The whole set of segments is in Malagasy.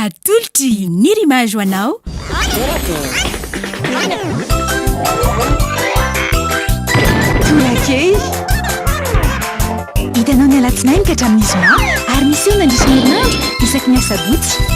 Atolotry ny rimage ho anao. Tolakely. Hitanao ny alatsinainy ka hatramin'ny zoma ary miseho mandritra ny herinandro isaky ny asabotsy.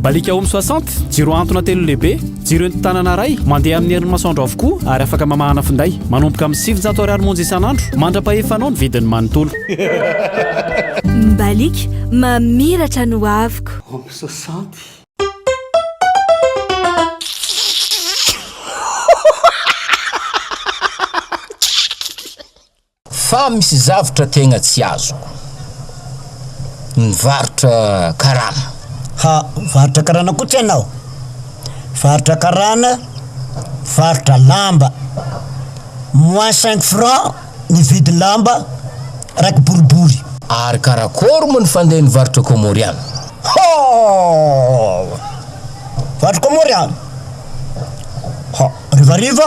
Mbaliaka Home soixante, jiro antona telo lehibe, jiro entin-tanana iray, mandeha amin'ny herin'ny masoandro avokoa ary afaka mamahana finday. Manomboka amin'ny sivinjato ariary monja isan'andro. Mandra-pahefanao ny vidiny manontolo. Mbaliaka, mamiratra ny hoaviko. Home soixante. Fa misy zavtra tegna tsy azoko. Mivarotra karana. Ha, mivarotra karana koa tsy ianao? Mivarotra karana, mivarotra lamba. Moins cinq francs ny vidin'ny lamba raha kiboribory. Ary karakôry moa ny fandeha nivarotra kômôriana? Ha! Mivarotra kômôriana? Ha, harivariva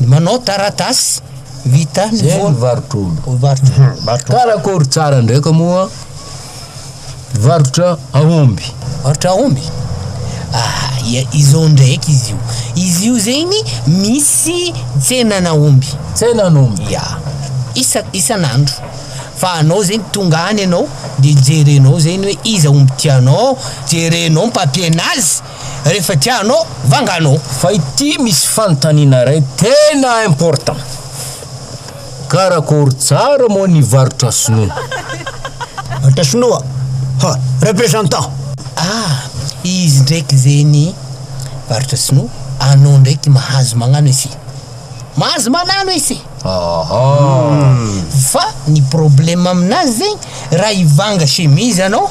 Ny manao taratasy vita ny Zay ny varotr'olo. Varotr'olo. Karakory tsara ndraika moa varotra aomby? Varotra aomby? Ah, izao ndraiky izy io. Izy io zegny misy tsenan'aomby. Tsenan'omby. Ya. Isa isan'andro. Fa anao zegny tonga any anao de jerenao zegny hoe iza omby tianao, jerenao ny papier-nazy. rehefa tianao vanganao. Fa ity misy fanontaniana iray tena important, karakory tsara moa ny varotra sinoa? Varotra sinoa? Ha, representant! Ah, izy ndraiky ze ny varotra sinoa, anao ndraiky mahazo magnano ese. Mahazo manano ese. Aha. Fa ny problème aminazy zegny, raha hivanga chemise anao,